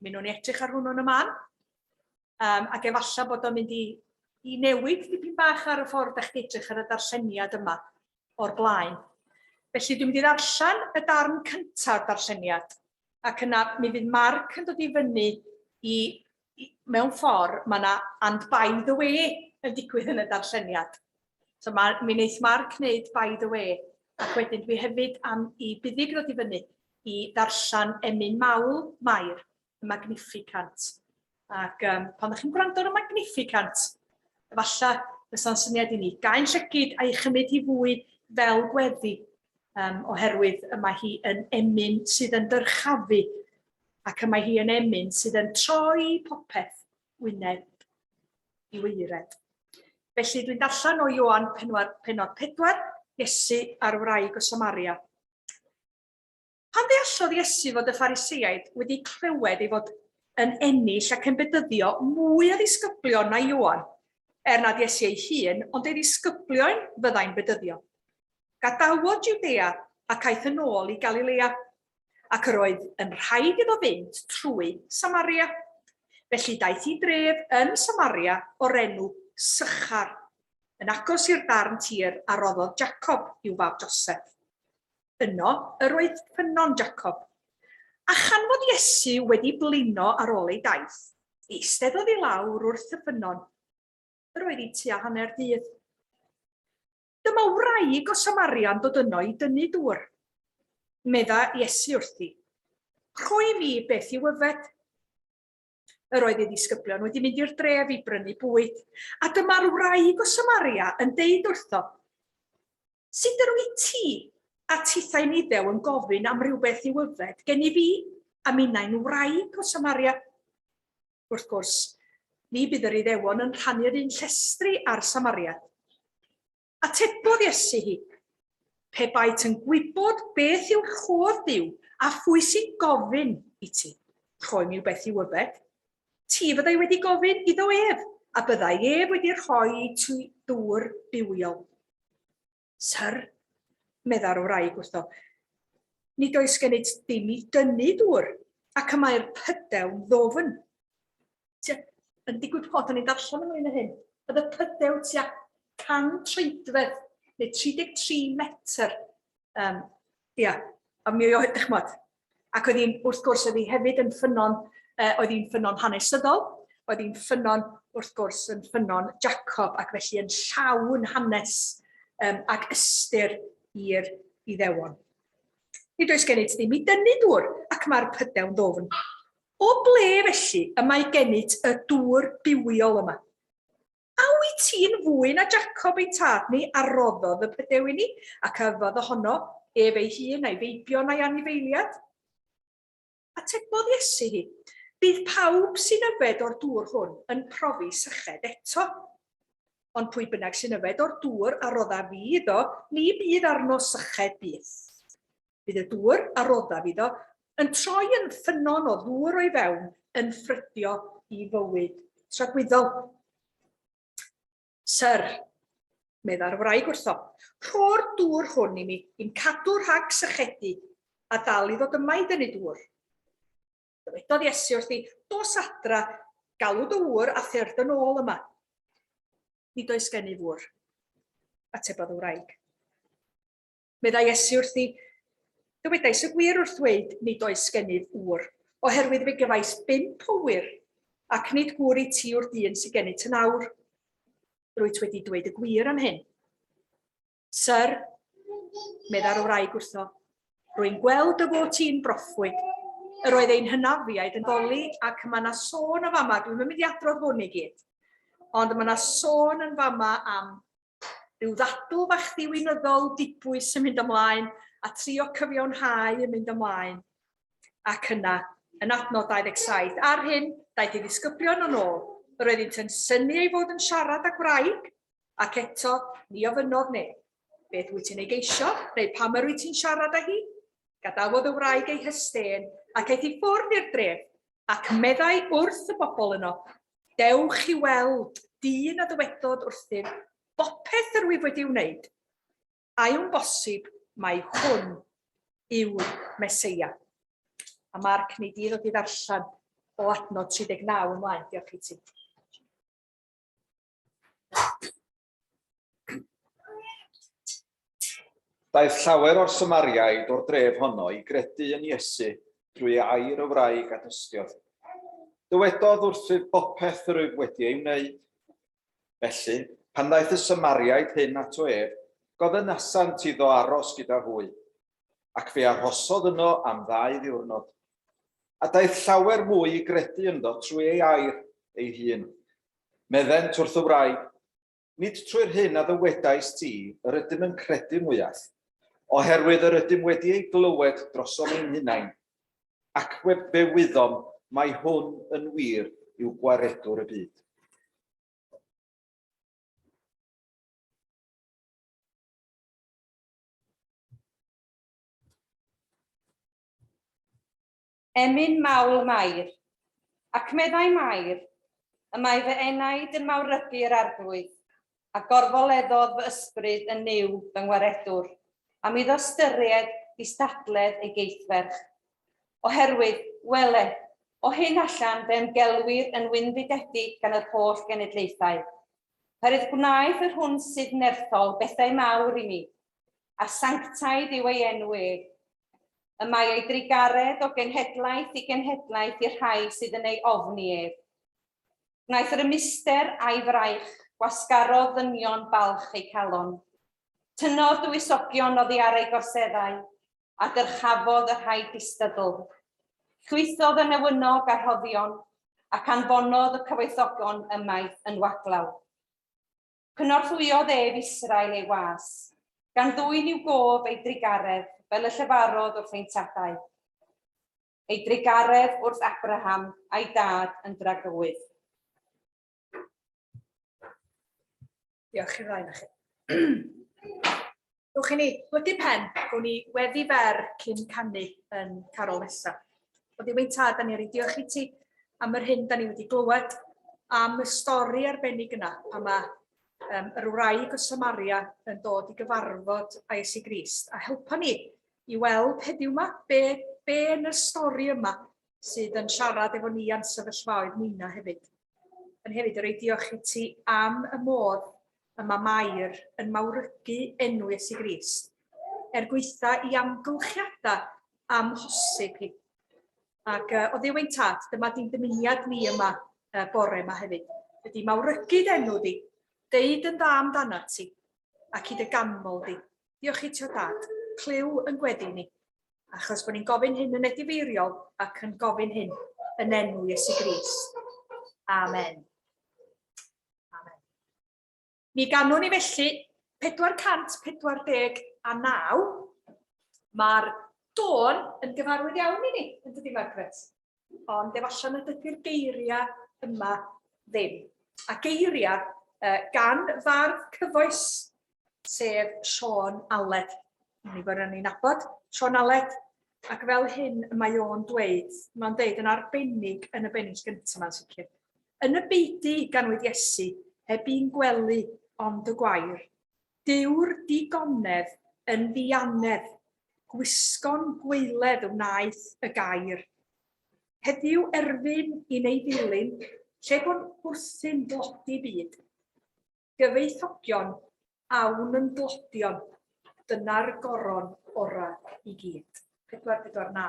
Mi nhw'n edrych ar hwnnw'n y man. Um, ac efallai bod o'n mynd i, i newid dipyn bach ar y ffordd ydych chi'n edrych ar y darlleniad yma o'r blaen. Felly dwi'n mynd i ddarllen y darn cyntaf darlleniad ac yna mi fydd Mark yn dod i fyny i mewn ffordd, mae 'na and by the way yn digwydd yn y darlleniad. So ma, mi wneith Mark wneud by the way, ac wedyn dwi hefyd am i buddig ddod i fyny i ddarllen emyn mawl Mair, y Magnificant. Ac um, pan ydych chi'n gwrando ar y Magnificant, efallai fysa'n syniad i ni gael llygyd a'i chymryd hi fwy fel gweddi, um, oherwydd y mae hi yn emyn sydd yn dyrchafu ac y mae hi yn emyn sydd yn troi popeth wyneb i waered. Felly dwi'n darllen o Ioan penwar, penod 4, Iesu a'r wraig o Samaria. Pan ddeallodd Iesu fod y Phariseaid wedi clywed ei fod yn ennill ac yn bedyddio mwy o ddisgyblion na Ioan, er nad Iesu ei hun, ond ei ddisgyblion fyddai'n bedyddio. Gadawodd Judea ac aeth yn ôl i Galilea, ac yr oedd yn rhaid iddo fynd trwy Samaria. Felly daeth i dref yn Samaria o'r enw Sychar, yn agos i'r darn tir a roddodd Jacob i'w fab Joseph. Yno yr oedd ffynnon Jacob. A chan fod Iesu wedi blino ar ôl ei daith, eisteddodd i lawr wrth y ffynnon. Yr oedd i tua hanner dydd. Dyma wraig o Samaria'n dod yno i dynnu dŵr. Medda Iesu wrthi, Rhoi mi beth i'w yfed. Yr oedd ei ddisgyblion wedi mynd i'r dref i brynu bwyd, a dyma'r wraig o Samaria yn deud wrtho, Sut yr wyt ti a tithau niddew yn gofyn am rhywbeth i'w yfed gen i fi, a minnau'n wraig o Samaria? wrth gwrs, ni bydd yr Iddewon yn rhannu'r un llestri â'r Samariad. Atebodd Iesu hi, Pe baet yn gwybod beth yw'r rhodd Duw a phwy sy'n gofyn i ti, rhoi mi beth i'w yfed, ti fyddai wedi gofyn iddo ef, a byddai ef wedi rhoi ti ddŵr bywiol. Syr, meddai'r wraig wrtho, nid oes gennyt dim i dynnu dŵr, ac y mae'r pydew'n ddofn. Tia, yn digwydd bod o'n i'n darllen ymlaen o hyn, oedd y pydew tua 100 treidfedd, neu 33 metr. Um, ia, a mi oedd, chmod, Ac oedd hi'n, wrth gwrs, oedd hi hefyd yn ffynnon, uh, oedd hi'n ffynnon hanesyddol, oedd hi'n ffynnon, wrth gwrs, yn ffynnon Jacob, ac felly yn llawn hanes um, ac ystyr i'r iddewon. Nid oes gennyt ddim i dynnu dŵr, ac mae'r pydew'n ddofn. O ble felly y mae gennyt y dŵr bywiol yma? A wyt ti'n fwy na Jacob ein tad ni a roddodd y pydew i ni, ac a yfodd ohono ef ei hun, a'i feibion a'i anifeiliad? Atebodd Iesu hi, Bydd pawb sy'n yfed o'r dŵr hwn yn profi syched eto. Ond pwy bynnag sy'n yfed o'r dŵr a rodda fi iddo, ni fydd arno syched byth. Bydd y dŵr, a roddaf iddo, yn troi yn ffynnon o ddŵr o'i fewn, yn ffrydio i fywyd tragwyddol. Sir, meddai'r wraig wrtho, rho'r dŵr hwn i mi, i'n cadw rhag sychedu, a dal i ddod yma i dynnu dŵr. Dywedodd Iesu wrthi, dos adra, galw dy ŵr a thyr dyn ôl yma. Nid oes gen i ŵr, atebodd y wraig. Meddai Iesu wrthi, Dywedais y gwir wrth ddweud, nid oes gennyf ŵr, oherwydd fe gefais bump o ŵyr, ac nid gŵr i ti yw'r dyn sy'n gennyt yn awr. Rwyt wedi dweud y gwir am hyn. Sir, meddai'r wraig wrtho, rwy'n gweld y fod ti'n broffwyd. Yr oedd ein hynafiaid yn doli ac mae yna sôn o fama, dwi'n mynd i adrodd hwn i gyd, ond mae yna sôn yn fama am Rhyw ddadl fach ddiwinyddol dibwys yn mynd ymlaen a trio cyfiawnhau yn mynd ymlaen. Ac yna, yn adnod 27, ar hyn, daeth ei ddisgyblion yn ôl. Yr oeddynt yn synnu ei fod yn siarad â gwraig, ac eto, ni ofynnodd neb, Beth wyt ti'n ei geisio? neu Pam yr wyt ti'n siarad â hi? Gadawodd y wraig ei hystên, ac aeth i ffwrdd i'r dref, ac meddai wrth y bobl yno, Dewch i weld dyn a dywedodd wrthym, bopeth yr wyf wedi wneud, a yw'n bosib mai hwn yw'r Meseia? A Marc, neu di ddod i ddarllen o adnod 39 ymlaen, diolch i ti. Daeth llawer o'r Samariaid o'r dref honno i gredu yn Iesu drwy ei air y wraig a dystiodd. Dywedodd wrthyf bopeth yr wyf wedi ei wneud. Felly, pan ddaeth y Samariaid hyn ato ef, gofynasant iddo aros gyda hwy, ac fe arhosodd yno am ddau ddiwrnod. A daeth llawer mwy i gredu ynddo trwy ei air ei hun, Meddent wrth y wraig, Nid trwy'r hyn a ddywedaist ti yr ydym yn credu mwyach, oherwydd yr ydym wedi ei glywed drosom ein hunain, ac fe wyddom mai hwn yn wir yw Gwaredwr y byd. Emyn mawl Mair. Ac meddai Mair, Y mae fy enaid yn mawrybu yr Arglwydd, a gorfoleddodd fy ysbryd yn nuw fy ngwaredwr, am iddo ystyried distadledd ei geithferch. Oherwydd, wele, o hyn allan fe ymgelwir yn wynfydedig gan yr holl genedlaethau, oherwydd gwnaeth yr hwn sydd nerthol bethau mawr i mi, a sanctaidd yw ei enw ef. Y mae ei drugaredd o genhedlaeth i genhedlaeth i'r rhai sydd yn ei ofni ef. Gwnaeth yr ymuster a'i fraich, gwasgaro ddynion balch ei calon. Tynnodd dywysogion oddi ar ei gorseddau, a dyrchafodd y rhai distydl. Llwythodd y newynog a rhoddion, ac anfonodd y cyfoethogon ymaith yn waglaw. Cynorthwyodd ef Israel ei was, gan ddwyn i'w gof ei drugaredd fel y llefarodd wrth ein tadau, ei drugaredd wrth Abraham a'i dad yn dragywydd. Diolch i'r ddau na chi. Dewch i ni blygu pen, gwn ni weddi fer cyn canu yn carol nesaf. O ddiwyn tad, da ni wedi diolch i ti am yr hyn da ni wedi glywed, am y stori arbennig yna, pan mae um, yr wraig o Samaria yn dod i gyfarfod a Iesu Grist. A helpa ni i weld heddiw yma be, be yn y stori yma sydd yn siarad efo ni a'n sefyllfaoedd ninna hefyd. Yn hefyd, yr ei diolch i ti am y modd y mae Mair yn mawrygu enw Iesu Grist, er gweitha i amgylchiadau amhosib hi. Ac uh, o ddiw ein tad, dyma di'n dymuniad ni yma uh, bore yma hefyd. Ydy mawrygu enw di, deud yn dda amdana ti, ac i dy ganmol di. Diolch i ti o dad, clyw yn gweddi ni. Achos bod ni'n gofyn hyn yn edifeiriol ac yn gofyn hyn yn enw Iesu Gris. Amen. Amen. Mi ganwn ni felly 449. Mae'r dôn yn gyfarwydd iawn i ni, yn dydi Margaret? ond efallai nad ydy'r geiriau yma ddim. A geiriau uh, gan fardd cyfoes, sef Sean Aled. Ni bod ni'n nabod Sean Aled, ac fel hyn y mae o'n dweud, mae'n dweud yn arbennig yn y bennill gyntaf mae'n sicr. Yn y beidu ganwyd Iesu, heb i'n gwely ond y gwair, Dyw'r digonedd yn ddianedd, gwisgo'n gwaeledd wnaeth y gair. Heddiw erfyn i'n ei ddilyn, lle bo'n wrthyn dlodi byd. Gyfoethogion, awn yn dlodion, dyna'r goron orau i gyd. 449.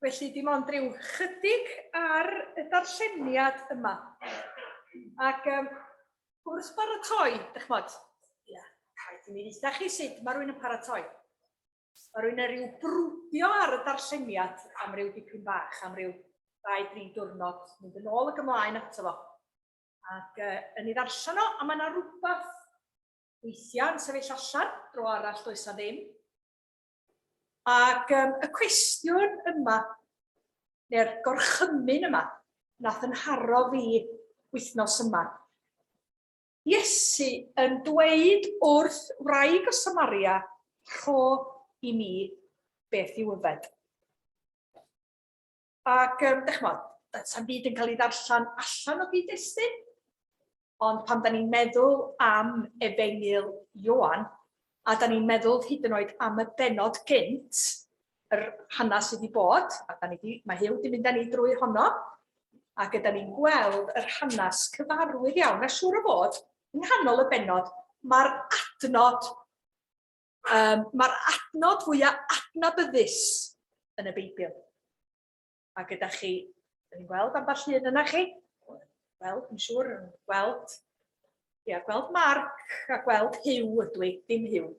Felly dim ond rhyw chydig ar y darlleniad yma. Ac um, wrth baratoi, ydych chmod, yeah, rhaid i mi ddeitha chi sut mae rhywun yn paratoi. Mae rwy'n ei ryw brwdio ar y darlleniad am ryw dipyn bach, am ryw ddau, dri diwrnod, mynd yn ôl ac ymlaen ato fo. Ac uh, yn ei ddarllen o, a mae yna rhywbeth weithiau yn sefyll allan, dro arall does na ddim. Ac um, y cwestiwn yma, neu'r gorchymyn yma, nath yn haro fi wythnos yma. Iesu yn dweud wrth wraig o Samaria, rho i mi beth i'w yfed. Ac, um, dych chmod, sa'n byd yn cael ei ddarllen allan o gyd-destun, ond pan da ni'n meddwl am efengyl Ioan, a 'dan ni'n meddwl hyd yn oed am y bennod gynt, yr hanes sydd wedi bod, a 'dan ni 'di... mae Huw 'di mynd â ni drwy honno, ac ydan ni'n gweld yr hanes cyfarwydd iawn, a siŵr o fod, yng nghanol y bennod, mae'r adnod, yym, mae'r adnod fwya' adnabyddus yn y Beibl. a gyda chi, dyn ni'n gweld ambell un yna chi, wel, yn siŵr, yn gweld, ia, gweld Mark a gweld Hugh ydw i, dim Hugh,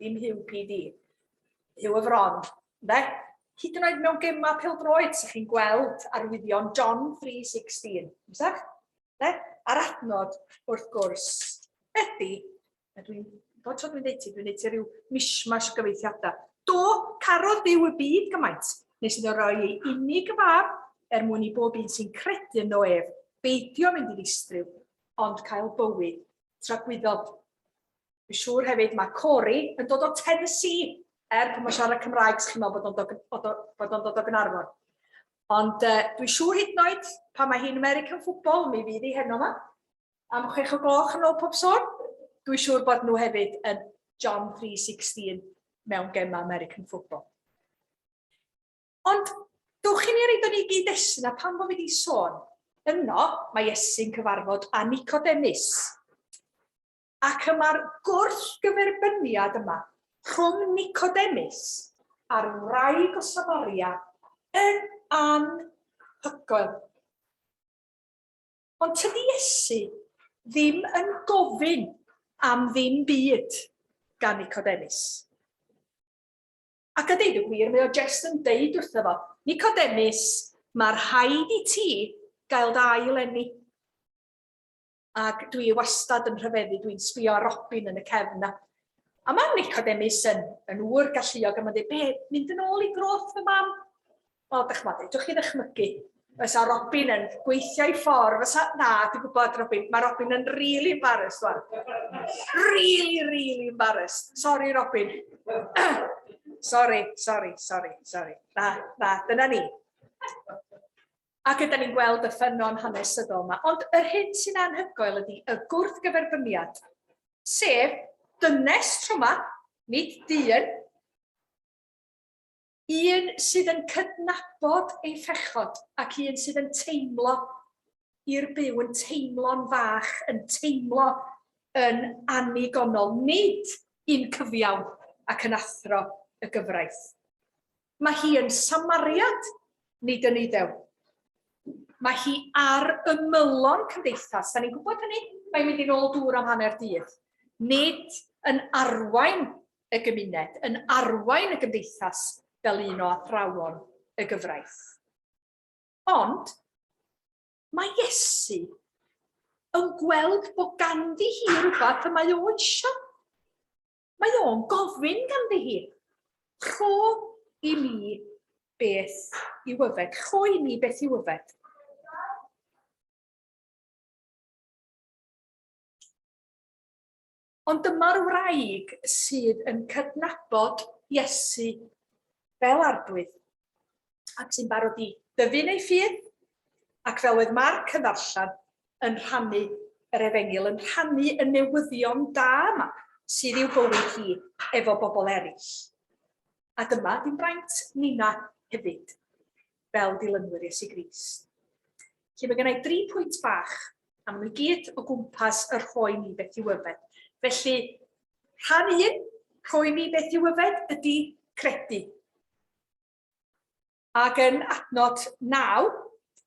dim Hugh PD, Hugh y Fron, de? Hyd yn oed mewn gemau pildroed, sy'ch chi'n gweld arwyddion John 3.16, ymsach? De? A'r adnod, wrth gwrs, ydy A dwi'n, bob tro dwi'n dweud ti, dwi'n dweud ti rhyw mishmash o gyfeithiadau. Do, carodd byw y byd gymaint, nes iddo roi ei unig y fab er mwyn i bob un sy'n credu yno ef beidio mynd i ddistryw, ond cael bywyd tragwyddol. Fy siŵr hefyd mae Corey yn dod o Tennessee, er pan mae'n siarad Cymraeg, chi'n meddwl bod o'n dod, bod o'n dod, dod, dod o Gynarfon. Ond uh, dwi'n siŵr hyd yn oed pan mae hi'n American football, mi fydd hi heno yma. am chwech o gloch yn ôl pob sôn. Dwi'n siŵr bod nhw hefyd yn John 3.16 mewn gemau American football. Ond dwch i ni reid o'n i gyd esyn a pan fo fi wedi sôn, yno mae Iesu'n cyfarfod â Nicodemus. Ac yma'r gwrth gyferbyniad yma rhwng Nicodemus a'r wraig o Samaria yn anhygoel. Ond tydi Iesu ddim yn gofyn am ddim byd gan Nicodemus. Ac a deud y gwir, mae o jest yn deud wrtho fo, Nicodemus, mae rhaid i ti gael dy ail enni. Ac dwi wastad yn rhyfeddu, dwi'n sbio ar Robin yn y cefn na. A mae Nicodemus yn, yn ŵr galluog a mae'n dweud, be, mynd yn ôl i groth fy mam? Wel, dych ch'mod, fedrwch chi ddychmygu, fysa Robin yn gweithio i ffordd, fysa, na, dwi'n gwybod Robin, mae Robin yn really embarrassed rwan. Really, really embarrassed. Sorry, Robin. sorry, sorry, sorry, sorry. Na, na, dyna ni. Ac ydyn ni'n gweld y ffynon hanesyddol yma. Ond yr hyn sy'n anhygoel ydy y gwrthgyferbyniad, sef dynes tro yma, nid dyn, Un sydd yn cydnabod ei phechod ac un sydd yn teimlo i'r byw, yn teimlo'n fach, yn teimlo yn annigonol, nid yn cyfiawn ac yn athro y gyfraith. Mae hi yn Samariad, nid yn Iddew. Mae hi ar ymylon cymdeithas, da ni'n gwybod hynny, mae'n mynd i'n ôl dŵr am hanner dydd. Nid yn arwain y gymuned, yn arwain y gymdeithas fel un o athrawon y gyfraith. Ond mae Iesu yn gweld bod ganddi hi rhywbeth y mae o eisiau. Mae o'n gofyn ganddi hi, rho i mi beth i wyfed, rho i mi beth i wyfed. Ond dyma'r wraig sydd yn cydnabod Iesu fel Arglwydd, ac sy'n barod i dyfu'n ei ffydd, ac fel oedd Marc yn ddarllen, yn rhannu yr Efengyl, yn rhannu y newyddion da yma sydd i'w bywyd hi efo bobl eraill. A dyma, dim braint Nina hefyd. fel dilynwyr Iesu Grist. Felly mae gennau dri pwynt bach, a maen nhw gyd o gwmpas y rhoi ni beth i'w yfed. Felly, rhan un, rhoi ni beth i'w yfed, ydy credu. Ac yn adnod naw,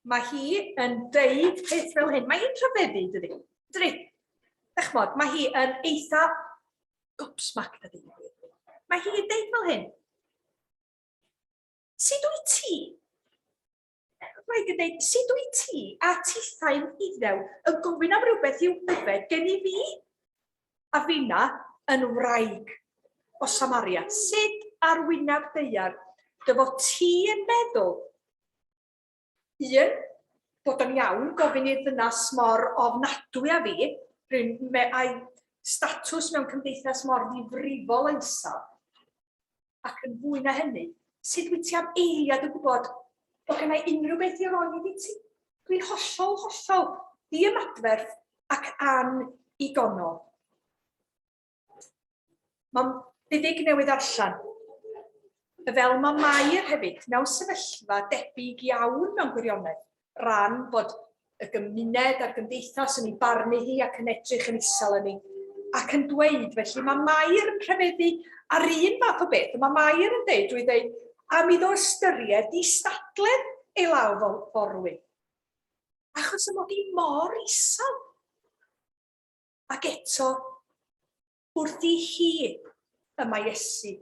mae hi yn deud peth fel hyn. Mae hi'n rhyfeddu, dydy. Dydy. Dych mod, mae hi yn eitha gobsmac, dydy. Mae hi'n deud fel hyn. Sut wyt ti? Mae gen dweud, sut wyt ti a tithau'n iddew yn gofyn am rhywbeth i'w yfed gen i fi? A finna yn wraig o Samaria, sut ar wyneb deiar dy fod ti yn meddwl Un, bod o'n iawn gofyn i'r ddynas mor ofnadwy â fi, rwy'n me a'i statws mewn cymdeithas mor ddifrifol a isaf, ac yn fwy na hynny, sut wyt ti am eiliad yn gwybod bod gen i unrhyw beth i roi iddi ti? Dwi'n hollol, hollol ddiymadferth ac an i gonol. Mae'n fuddig newydd allan. Fel mae Mair hefyd mewn sefyllfa debyg iawn mewn gwirionedd, ran bod y gymuned a'r gymdeithas yn ei barnu hi ac yn edrych yn isel yn ei ac yn dweud, felly mae Mair yn rhyfeddu ar un fath o beth, mae Mair yn dweud drwy ddweud am iddo ystyried i stadledd ei law fel forwyn. Achos y mod i mor isel. Ac eto, wrth i hi y mae Iesu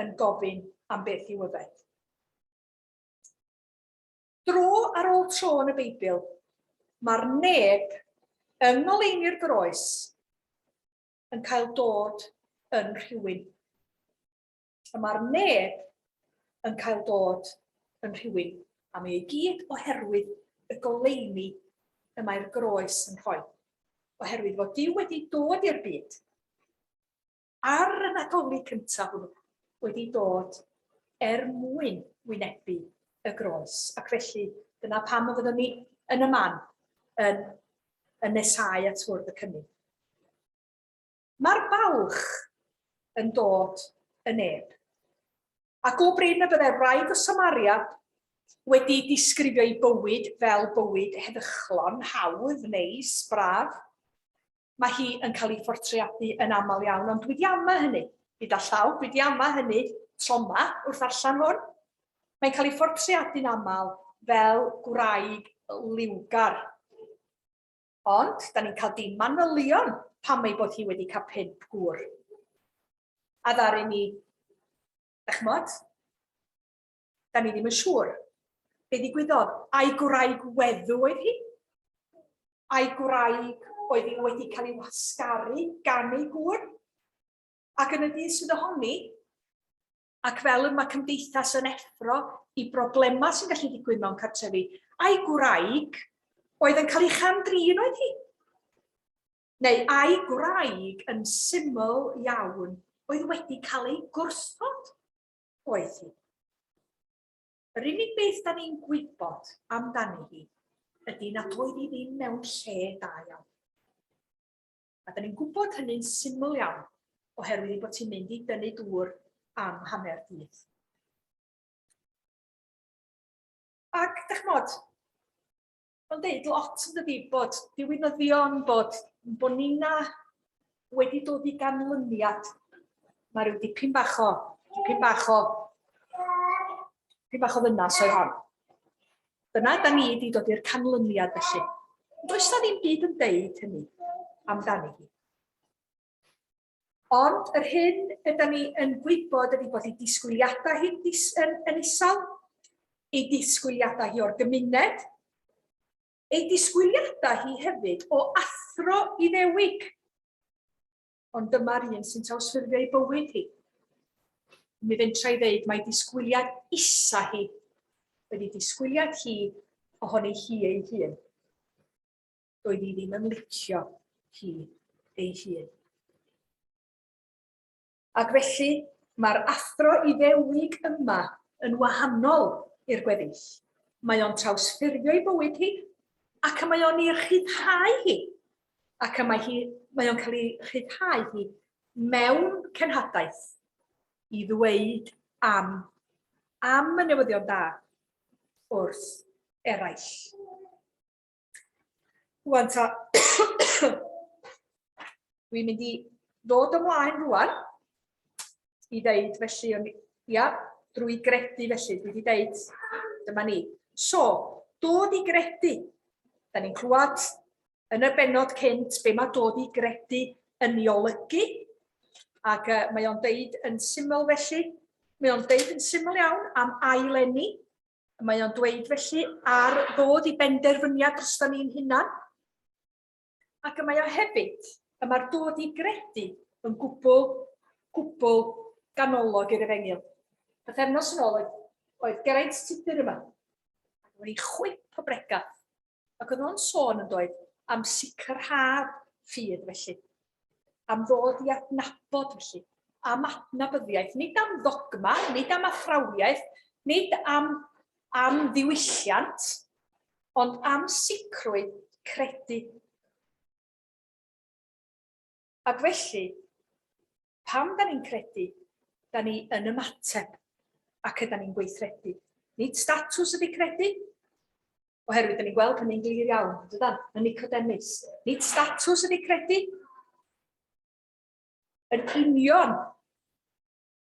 yn gofyn am beth i'w yfed. Dro ar ôl tro yn y Beibl, mae'r neb yng ngoleuni'r groes yn cael dod yn rhywun. y mae'r neb yn cael dod yn rhywun, a mae ei gyd oherwydd y goleuni y mae'r groes yn rhoi, oherwydd fod Dyw wedi dod i'r byd, ar y Nadolig cyntaf hwnnw, wedi dod er mwyn wynebu y groes. Ac felly, dyna pam y fyddwn ni yn y man, yn, yn nesau at fwrdd y cynnig. Mae'r balch yn dod yn neb. Ac o brin y byddai'r wraig o Samaria wedi disgrifio ei bywyd fel bywyd heddychlon, hawdd, neis, braf, mae hi yn cael ei phortreadu yn aml iawn, ond dwi di ama hynny, gyda llaw, dwi di ama hynny tro yma wrth allan hwn. Mae'n cael ei phortreadu'n aml fel gwraig liwgar. Ond, da ni'n cael dim manylion pam ei bod hi wedi cael pump gŵr. A ddaru ni, da chymod, da ni ddim yn siŵr. Be ddigwyddodd? Ai gwraig weddw oedd hi? Ai gwraig oedd hi wedi cael ei wasgaru gan ei gŵr? Ac yn y dydd sydd ohoni, ac fel y mae cymdeithas yn effro i broblemau sy'n gallu digwydd mewn cartrefi, a'i gwraig oedd yn cael ei cham-drin oedd hi. Neu a'i gwraig yn syml iawn oedd wedi cael ei gwrthod oedd hi. Yr unig beth da ni'n gwybod amdani hi ydy nad oedd hi ddim mewn lle da iawn. a dan ni'n gwybod hynny'n syml iawn oherwydd ei bod ti'n mynd i dynnu dŵr am hanner dydd. Ac, da chymod, mae'n deud lot yn dydi bod diwinyddion, bod bonina wedi dod i ganlyniad. Mae rhyw dipyn bach o, dipyn bach o, dipyn bach o ddynas oedd hon. Dyna da ni di dod i'r canlyniad felly. Does na ddim byd yn deud hynny amdani hi. Ond yr hyn y da ni yn gwybod ydy bod ei disgwyliadau hi'n dis, yn, yn isal, ei disgwyliadau hi o'r gymuned, ei disgwyliadau hi hefyd o athro Iddewig. ond dyma'r un sy'n trawsffurfio ei bywyd hi. Mi fentra i ddeud mae disgwyliad isa hi wedi disgwyliad hi ohoni hi ei hun. Doedd hi ddim yn licio hi ei hun. Ac felly, mae'r athro iddewig yma yn wahanol i'r gweddill. Mae o'n trawsffurfio ei bywyd hi ac mae o'n ei rhyddhau hi. ac y mae hi... mae o'n cael ei rhyddhau hi mewn cenhadaeth i ddweud am, am y newyddion da wrth eraill. Rwan ta, dwi'n mynd i ddod ymlaen rwan i ddeud, felly, o'n, ia, drwy gredu felly, dwi wedi deud, dyma ni. So, dod i gredu. Da ni'n clywed yn y benod cynt be mae dod i gredu yn ei olygu, ac uh, mae o'n deud yn syml felly, mae o'n deud yn syml iawn am ailenni, mae o'n dweud felly ar ddod i benderfyniad dros da ni'n hunan, Ac y mae o hefyd, y mae'r dod i gredu yn gwbl, gwbl ganolog i'r efengyl. Bythefnos yn ôl oedd, oedd Geraint Tudur yma, ac oedd ei chwip o bregaf, ac oedd o'n sôn yn doedd am sicrhad ffydd felly, am ddod i adnabod felly, am adnabyddiaeth, nid am ddogma, nid am athrawiaeth, nid am am ddiwylliant, ond am sicrwydd credu. Ac felly, pam da ni'n credu, da ni yn ymateb ac yda ni'n gweithredu. Nid statws ydy credu, oherwydd da ni'n gweld hynny'n glir iawn, dydan, yn Nicodemus. Nid statws ydy credu, yn union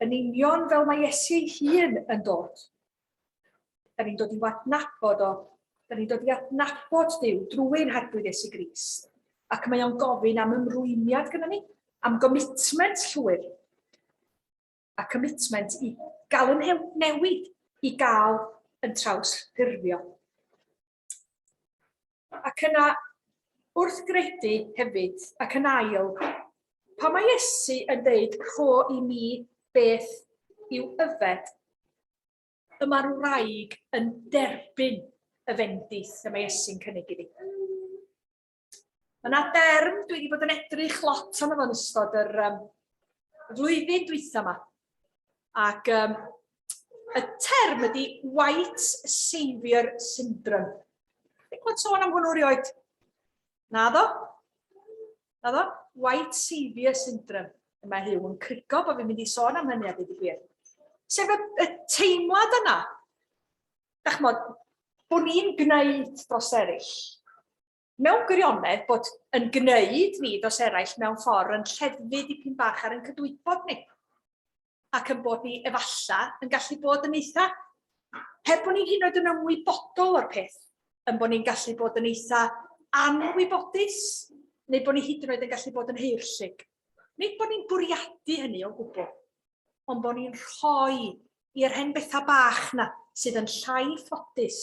yn union fel mae Iesu ei hun yn dod. Da ni'n dod i wadnabod o, da ni'n dod i adnabod Dyw drwy'n hadwyd Iesu Grist. Ac mae o'n gofyn am ymrwymiad gyda ni, am gomitment llwyr, a comitment i gael yn newid, i gael yn traws ffurfio. Ac yna, wrth gredu hefyd, ac yn ail, pa mae Iesu yn dweud co i mi beth yw yfed? Y mae'r wraig yn derbyn y fendith y mae Iesu'n cynnig iddi. Mae yna derm dwi wedi bod yn edrych lot arno fo'n ystod yr um, flwyddyn dwytha yma. Ac um, y term ydy White Saviour Syndrome. Dwi'n gwybod sôn am hwnnw rioed. Na ddo? Na ddo? White Saviour Syndrome. Mae Huw yn crigo bod fi'n mynd i sôn am hynny a dweud y gwir. Sef y, y teimlad yna da chmod, bod ni'n gwneud dros eraill. Mewn gwirionedd bod yn gwneud ni dros eraill mewn ffordd yn lleddfu dipyn bach ar yn cydwybod ni. Ac yn bod ni efalla yn gallu bod yn eitha, heb bod ni'n hyn oed yn ymwybodol o'r peth, yn bod ni'n gallu bod yn eitha anwybodus, neu bod ni hyd yn oed yn gallu bod yn heirllug. Nid bod ni'n bwriadu hynny o gwbl, ond bod ni'n rhoi i'r hen bethau bach na sydd yn llai ffodus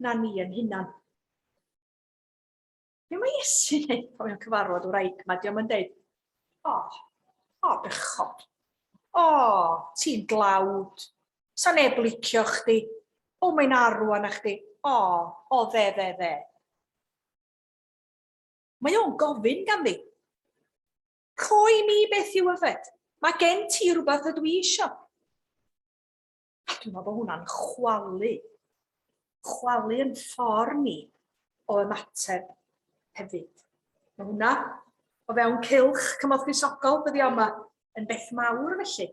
na ni yn hunan. Be mae Iesu'n neud pan mae'n cyfarfod wraig ma? Diolch yn deud, o, oh, o, oh, bechod. O, oh, ti'n dlawd. Sa neb licio chdi. O, oh, mae'n arw anna chdi. O, oh, o, oh, dde, dde, dde. Mae o'n gofyn ganddi. Coe mi beth yw yfed. Mae gen ti rhywbeth ydw i isio. A dwi'n meddwl bod hwnna'n chwalu. Chwalu yn ffordd ni o ymateb hefyd. Mae hwnna o fewn cilch cymorth gwisogol dyddi yma yn beth mawr felly.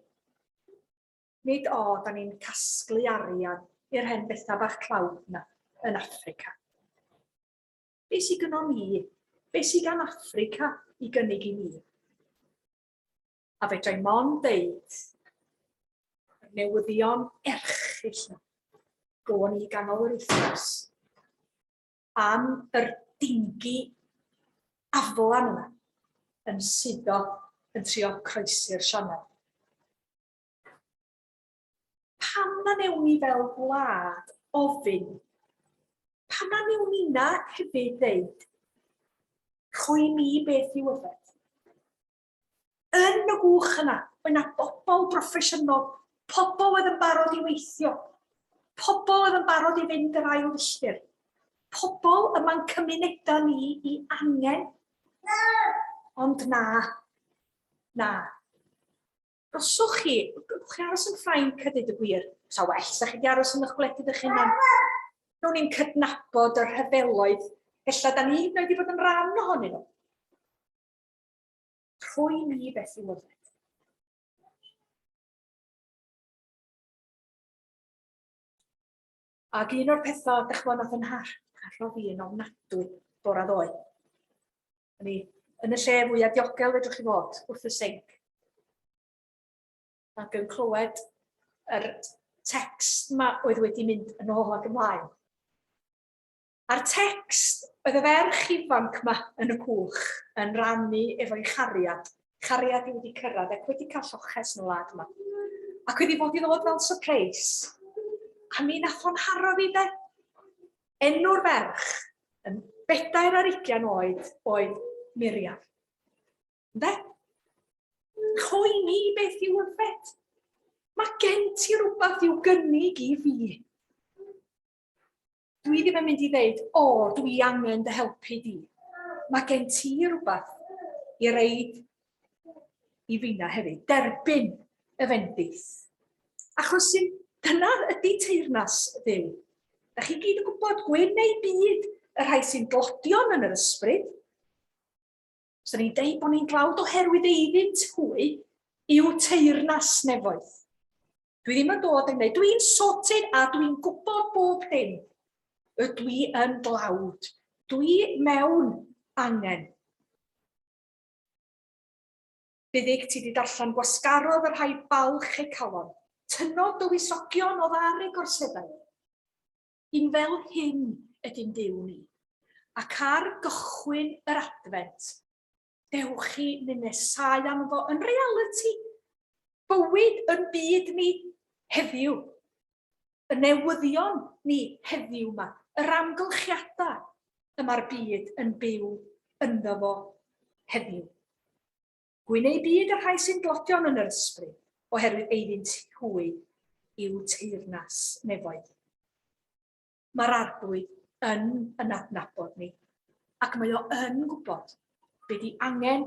Nid o, da ni'n casglu arian i'r hen bethau bach tlawd yna yn Africa. Be sy gynom ni? Be sy gan Affrica i gynnig i ni? A fedrai mond dweud, y newyddion erchill na, gofon ni ganol yr wythnos, am yr dingi aflan yna, yn suddo yn trio croesi'r sianel. Pam na newn ni fel gwlad ofyn? Pam na newn nina hefyd ddeud, rhoi mi beth i'w yfed? Yn y gwch yna, mae yna bobl broffesiynol, pobl oedd yn barod i weithio, pobl oedd yn barod i fynd yr ail filltir, pobl yma'n cymunedau ni i angen. Ond na, na. Os chi, gewch chi aros yn Ffrainc a dweud y gwir. Sa well, sa chi wedi aros yn eich gwledydd eich hunan. Down ni'n cydnabod y rhyfeloedd, felly da ni hyd yn oed wedi bod yn rhan ohonyn nhw. Rhoi ni beth i lyfed. Ac un o'r pethau, dych chmod, nath yn harllo fi yn ofnadwy bora ddoe. O'n i yn y lle fwyaf diogel fedrwch chi fod, wrth y sinc. Ac yn clywed yr text ma oedd wedi mynd yn ôl ac ymlaen. A'r tecst, oedd y ferch ifanc 'ma yn y cwch yn rannu efo'i chariad, cariad i wedi cyrraedd ac wedi cael lloches yn y wlad yma. Ac wedi bod i ddod fel surprise. A mi nath o'n haro fi de. Enw'r ferch yn bedair ar ugian oed oedd Miriam. Ynde? Chwy mi beth i'w yfed. Mae gen ti rhywbeth i'w gynnig i fi. Dwi ddim yn mynd i ddeud, o, dwi angen dy helpu di. Mae gen ti rhywbeth i reid i fina hefyd. Derbyn y fendith. Achos sy'n dyna ydy teirnas ddiw. Da chi gyd yn gwybod, gwyn neu byd, y rhai sy'n glodion yn yr ysbryd. Swn i'n deud bod ni'n dlawd oherwydd eiddynt hwy i'w teyrnas nefoedd. Dwi ddim yn dod yn gwneud, dwi'n sorted a dwi'n gwybod bob hyn. Y dwi yn dlawd, dwi mewn angen. Byddig ti wedi darllen gwasgarodd y rhai balch e calon, tynnodd dywysogion oedd ar ei gorseddau. Yn fel hyn ydyn Duw ni. Ac ar gychwyn yr Adfent, dewch chi ninesau am fo yn realiti. Bywyd yn byd ni heddiw, y newyddion ni heddiw ma, yr amgylchiadau y mae'r byd yn byw ynddo fo heddiw. Gwyn eu byd y rhai sy'n glodion yn yr ysbryd, oherwydd eiddynt hwy yw teyrnas nefoedd. Mae'r arglwydd yn yn adnabod ni, ac mae o yn gwybod be di angen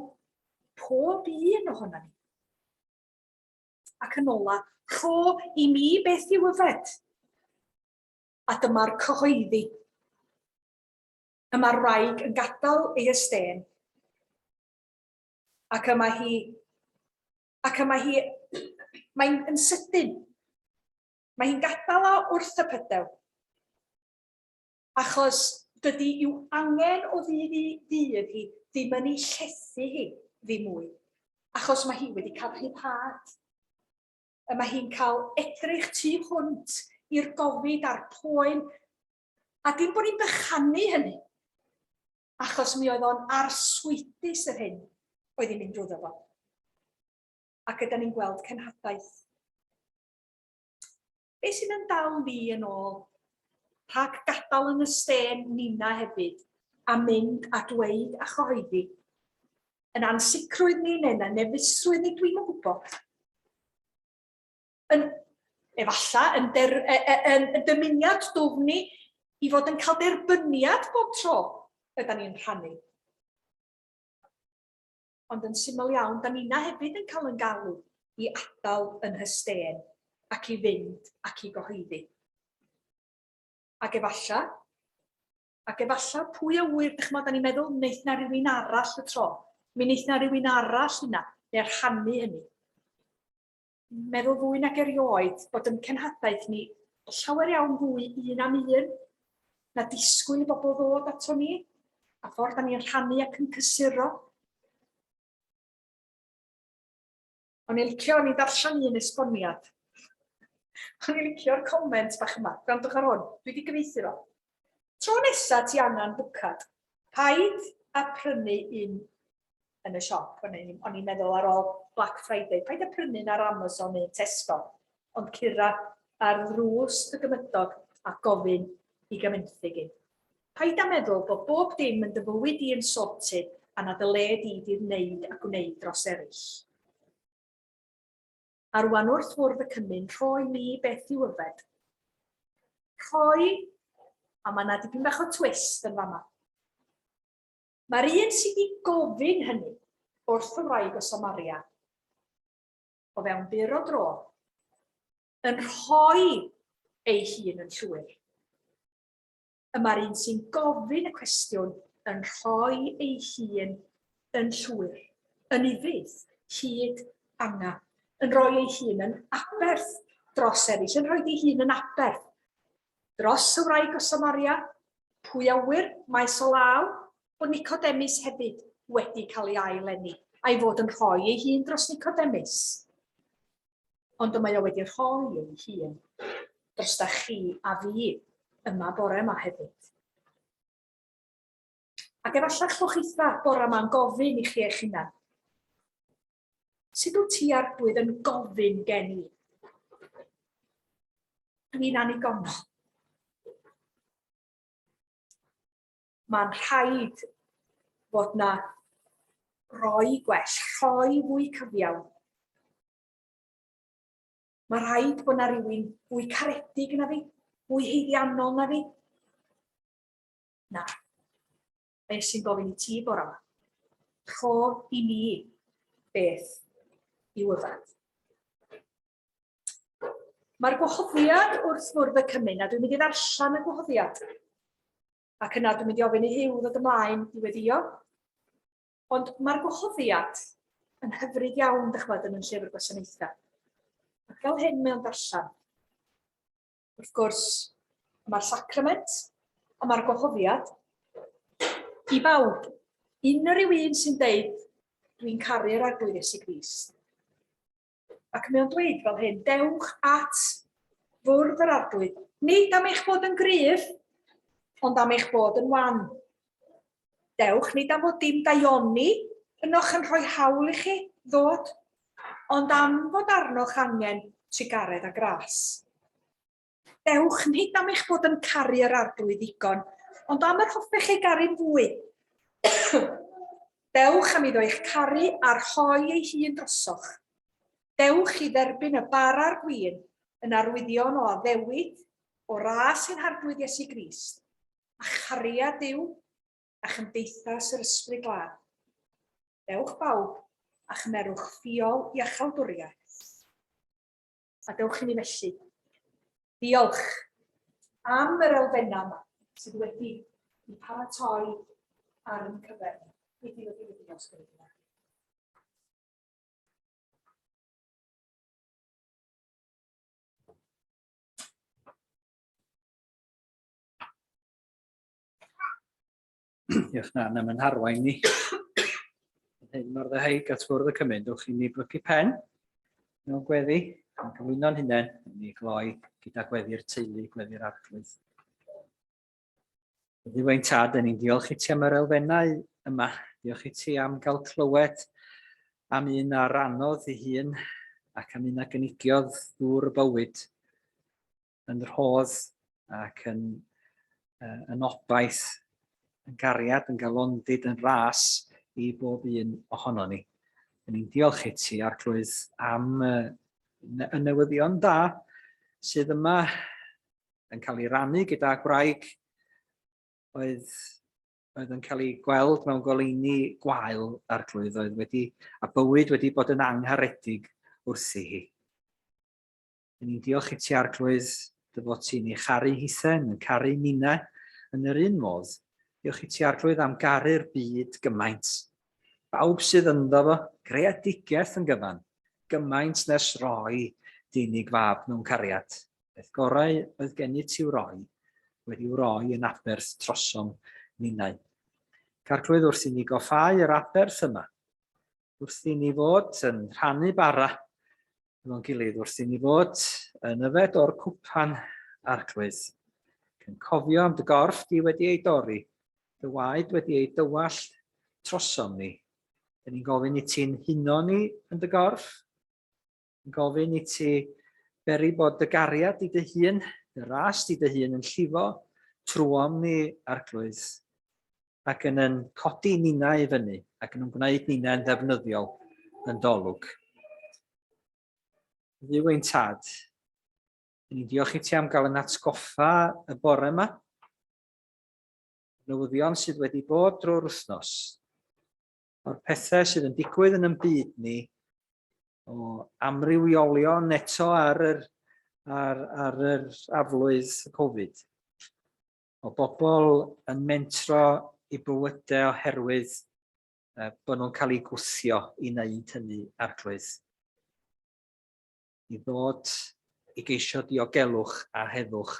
pob un ohono ni. Ac yn ola, rho i mi beth i'w yfed. A dyma'r cyhoeddi. Y mae'r wraig yn gadael ei ystên Ac y mae hi... Ac y mae hi... Mae'n yn sydyn. Mae hi'n gadael o wrth y pydew. Achos dydy i'w angen o ddydd i ddydd hi ddim yn ei llethu hi ddim mwy. Achos mae hi wedi cael rhyddhad. Y mae hi'n cael edrych tu hwnt i'r gofid a'r poen. A dim bod ni'n bychanu hynny. achos mi oedd o'n arswydus yr hyn oedd hi'n mynd drwyddo fo. Ac ydym ni'n gweld cenhadaeth. Be sy'n yn dal ni yn ôl? Rhag gadael yn y stên nina hefyd, a mynd a dweud a chyhoeddi. Yn ansicrwydd ni neu na nefusrwydd ni, dwi'n yn gwybod. yn, efalla, yn, der, e, e, yn, yn dymuniad dwfn ni i fod yn cael derbyniad bob tro ydy ni'n rhannu. Ond yn syml iawn, da ni'na hefyd yn cael yn galw i adael yn hysten ac i fynd ac i gyhoeddi. Ac efalla, ac efalla pwy a wyr, dych chymod, da ni'n meddwl, wneud na rhywun arall y tro. Mi wneud na rhywun arall hynna, neu rhannu hynny. meddwl fwy nag erioed bod yn cenhadaeth ni llawer iawn fwy un am un na disgwyl i bobl ddod ato ni, a ffordd da ni'n rhannu ac yn cysuro. O'n i'n licio, o'n i'n darllen un esboniad. O'n i'n licio'r comment bach yma, gwrandwch ar hwn, dwi wedi gyfeithi fo. Tro nesa ti angen bwcad, paid a prynu un yn y siop. O'n i'n o'n i'n meddwl ar ôl Black Friday, paid â prynu'n ar Amazon neu Tesco, ond cura ar ddrws y gymydog a gofyn i gymenthyg i. Paid â meddwl bod bob dim yn dy fywyd di yn sorted a nad y le di di wneud a gwneud dros eraill. A rwan wrth fwrdd y cymun, rhoi mi beth i'w yfed. Rhoi, a mae yna dipyn bach o twist yn fama. Mae'r un sydd wedi gofyn hynny wrth y wraig o Samaria, o fewn byr o dro, yn rhoi ei hun yn llwyr. Y mae'r un sy'n gofyn y cwestiwn yn rhoi ei hun yn llwyr, yn ufudd, hyd anga, yn rhoi ei hun yn aberth dros eraill, yn rhoi ei hun yn aberth Dros y wraig o Samaria, pwy a ŵyr, mae so law bod Nicodemus hefyd wedi cael ei ail eni, a'i fod yn rhoi ei hun dros Nicodemus. Ond y mae o wedi rhoi ei hun dros da chi a fi yma bore yma hefyd. Ac efallai chwch eitha bore yma'n gofyn i chi eich hunan, Sut wyt ti, Arglwydd, yn gofyn gen i? Dwi'n annigonol. Mae'n rhaid bod na roi gwell, rhoi fwy cyfiawn. Mae rhaid bod na rhywun fwy caredig na fi, fwy heiddiannol na fi. Na. Beth sy'n gofyn i ti bore yma? Rho i mi beth i'w yfed. Mae'r gwahoddiad wrth fwrdd y cymyn, a dwi'n mynd i ddarllen y gwahoddiad. Ac yna dwi'n mynd i ofyn i Huw ddod ymlaen i weddio. Ond mae'r gwahoddiad yn hyfryd iawn, dych chwad, yn y llyfr gwasanaethau. Ac fel hyn mae'n darllen. Wrth gwrs, y mae'r sacrament, y mae'r gwahoddiad. I bawb, unrhyw un sy'n deud, dwi'n caru'r arglwydd Iesu Grist. Ac mae o'n dweud fel hyn, dewch at fwrdd yr arglwydd, nid am eich bod yn gryf, ond am eich bod yn wan. Dewch, nid am fod dim daioni ynoch yn rhoi hawl i chi ddod, ond am fod arnoch angen trugaredd a gras. Dewch, nid am eich bod yn caru yr Arglwydd ddigon, ond am yr hoffech ei garu'n fwy. Dewch am iddo eich caru a rhoi ei hun drosoch. Dewch i dderbyn y bar a'r gwin yn arwyddion o addewid o ras ein Harglwydd Iesu Grist. a chariad Duw a chymdeithas yr ysbryd glân. Dewch bawb a chymerwch ffiol i achaldwriaeth. A dewch i ni felly. Diolch am yr elfennau yma sydd wedi i paratoi ar yn cyfer. Nid i wedi wedi os gwneud yna. Diolch na, na mae'n harwain ni. Hyn mor ddehaig at fwrdd y cymryd, dwch i ni blygu pen mewn gweddi, yn gyflwyno'n hunain, yn ei gloi gyda gweddi'r teulu, gweddi'r arglwydd. Ddiwain tad, yn ni'n diolch i ti am yr elfennau yma. Diolch i ti am gael clywed am un a ranodd ei hun ac am un a gynigiodd ddŵr y bywyd. yn rhodd ac yn, uh, yn obaith, yn gariad, yn galondid, yn ras i bob un ohono ni. Yn ni'n diolch i ti, Arglwydd, am uh, y newyddion da sydd yma yn cael ei rannu gyda gwraig oedd, oedd yn cael ei gweld mewn goleini gwael a'r glwydd oedd wedi, a bywyd wedi bod yn angharedig wrthi hi. Yn ni'n diolch i ti, Arglwydd, dy fod ti'n ei charu hithen, yn caru ninnau, yn yr un modd. Diolch i ti, Arglwydd, am garu'r byd gymaint. Bawb sydd ynddo fo, greadigaeth yn gyfan, gymaint nes roi dynig fab mewn cariad. Beth gorau oedd gen i ti'w roi, wedi'w roi yn aberth trosom ninnau. Carglwydd wrth i ni goffau yr aberth yma, wrth i ni fod yn rhannu bara efo'n gilydd wrth i ni fod yn yfed o'r cwpan arglwydd. Cyn cofio am dy gorff di wedi ei dorri, dy waed wedi ei dywallt trosom ni. Dyn ni'n gofyn i ti'n huno ni yn dy gorff. Yn gofyn i ti beri bod dy gariad i dy hun, dy ras di dy hun yn llifo trwom ni arglwydd. ac yn yn codi ninnau i fyny ac yn gwneud ninnau'n ddefnyddiol yn dolwg. Dduw ein tad, yn ni'n diolch i ti am gael yn atgoffa y bore yma, newyddion sydd wedi bod drwy'r wythnos, o'r pethau sydd yn digwydd yn ymbyd ni, o amrywiolion eto ar yr, ar, ar yr aflwydd Covid. o bobl yn mentro i bywydau oherwydd uh, bod nhw'n cael eu gwthio i wneud hynny, arglwydd. I ddod i geisio diogelwch a heddwch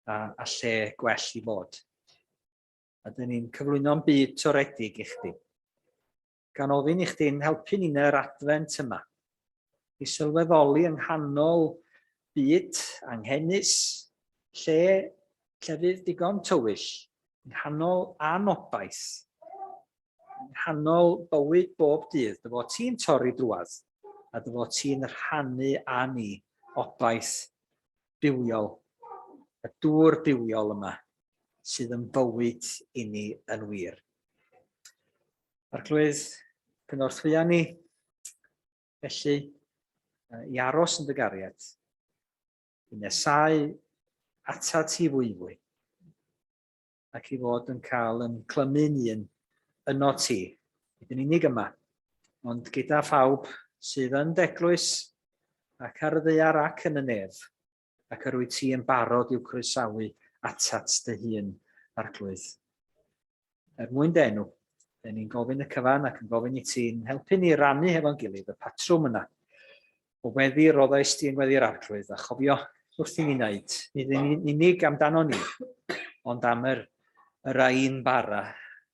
a, a lle gwell i fod. A dyn ni'n cyflwyno'n byd toredig i chdi. gan ofyn i chdi'n helpu ni yn yr adfent yma i sylweddoli yng nghanol byd anghenus, lle llefydd digon tywyll, yng nghanol anobaith, yng nghanol bywyd bob dydd, dy fod ti'n torri drwad a dy fod ti'n rhannu â ni obaith bywiol, y dŵr bywiol yma sydd yn bywyd i ni yn wir. Arglwydd, cynorthwya ni, felly, i aros yn dy gariad, i nesau ata ti fwy fwy, ac i fod yn cael yn clymu'n un yno ti, nid yn unig yma, ond gyda phawb sydd yn deglwys ac ar y ddear ac yn y nef, ac yr wyt ti yn barod i'w croesawu atat dy hun, Arglwydd. Er mwyn dy enw, Dyn ni'n gofyn y cyfan ac yn gofyn i ti'n helpu ni rannu hefo'n gilydd y patrwm yna. O weddi roddau sti yn weddi'r arglwydd, a chofio wrth i ni wneud, nid yn unig amdano ni, ond am yr, yr ein bara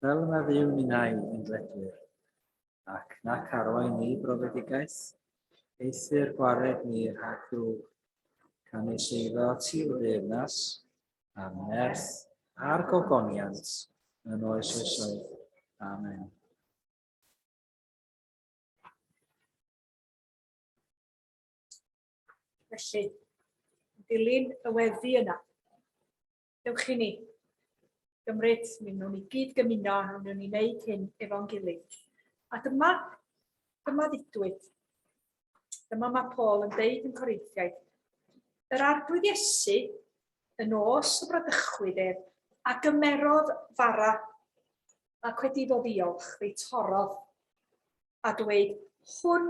Fel na fyw ninnau yn gledwyr, ac nac arwain ni brofedigaeth, eithr gwared ni rhag drwg, canys eiddo ti o deyrnas, a nerth, a'r gogoniant, yn oes oesoedd. Amen. Felly, dilyn y weddi yna. Dewch i ni gymryd, mi wnawn ni gyd gymuno a wnawn ni wneud hyn efo'n gilydd. A dyma, dyma ddidwyd. Dyma mae Paul yn deud yn Corintiaid. Yr arglwydd Iesu yn os y bradychwyd ef, a gymerodd fara, ac wedi dod ddiolch, fe torodd, a dweud, hwn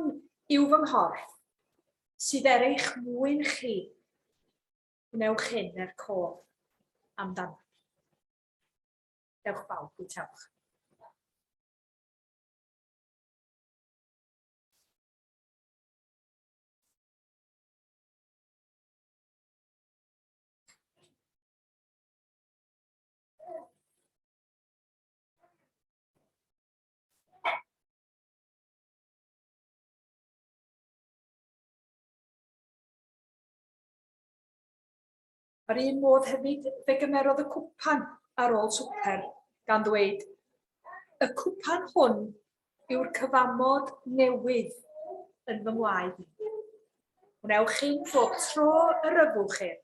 yw fy nghorff, sydd er eich mwyn chi, Gwnewch hyn er cof amdano. Dewch bawb, bwytewch. Ar un modd hefyd, fe gymerodd y cwpan ar ôl swper, gan ddweud, Y cwpan hwn yw'r cyfamod newydd yn fy ngwaed i. Gwnewch chi'n bob tro y ryfwch ef,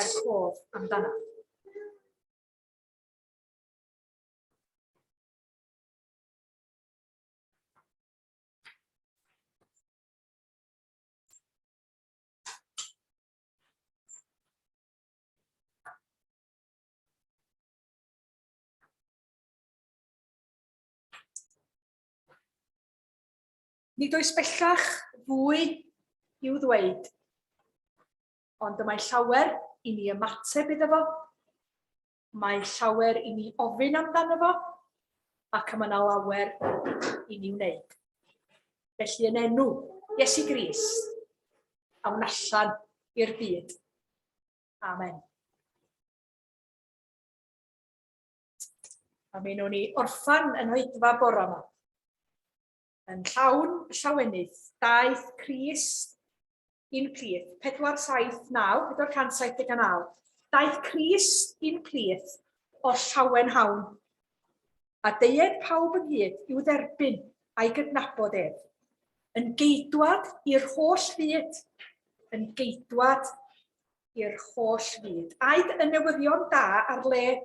er cof amdano. Nid oes bellach fwy i'w ddweud, ond y mae llawer i ni ymateb iddo fo. Mae llawer i ni ofyn amdano fo, ac mae yna lawer i ni wneud. Felly yn enw Iesu Grist, a wna allan i'r byd. Amen. A mi nhw'n ni orffan yn oedfa bora yma. Yn llawn llawenydd, daeth Crist i'n plith, 479, 479, daeth Crist i'n plith o llawen hawn, a deued pawb ynghyd i'w dderbyn a'i gydnabod ef, yn geidwad i'r holl fyd, yn geidwad i'r holl fyd. Aed y newyddion da ar led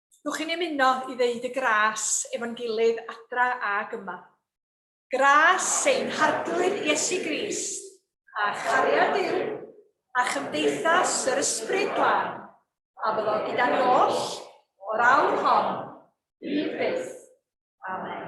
Dwch chi'n ymuno i ddeud y gras efo'n gilydd adra ag yma. Gras ein Harglwydd Iesu Grist, a chariad Duw, a chymdeithas yr Ysbryd Glân, a fyddo gyda ni oll o'r awr hon, hyd byth. Amen.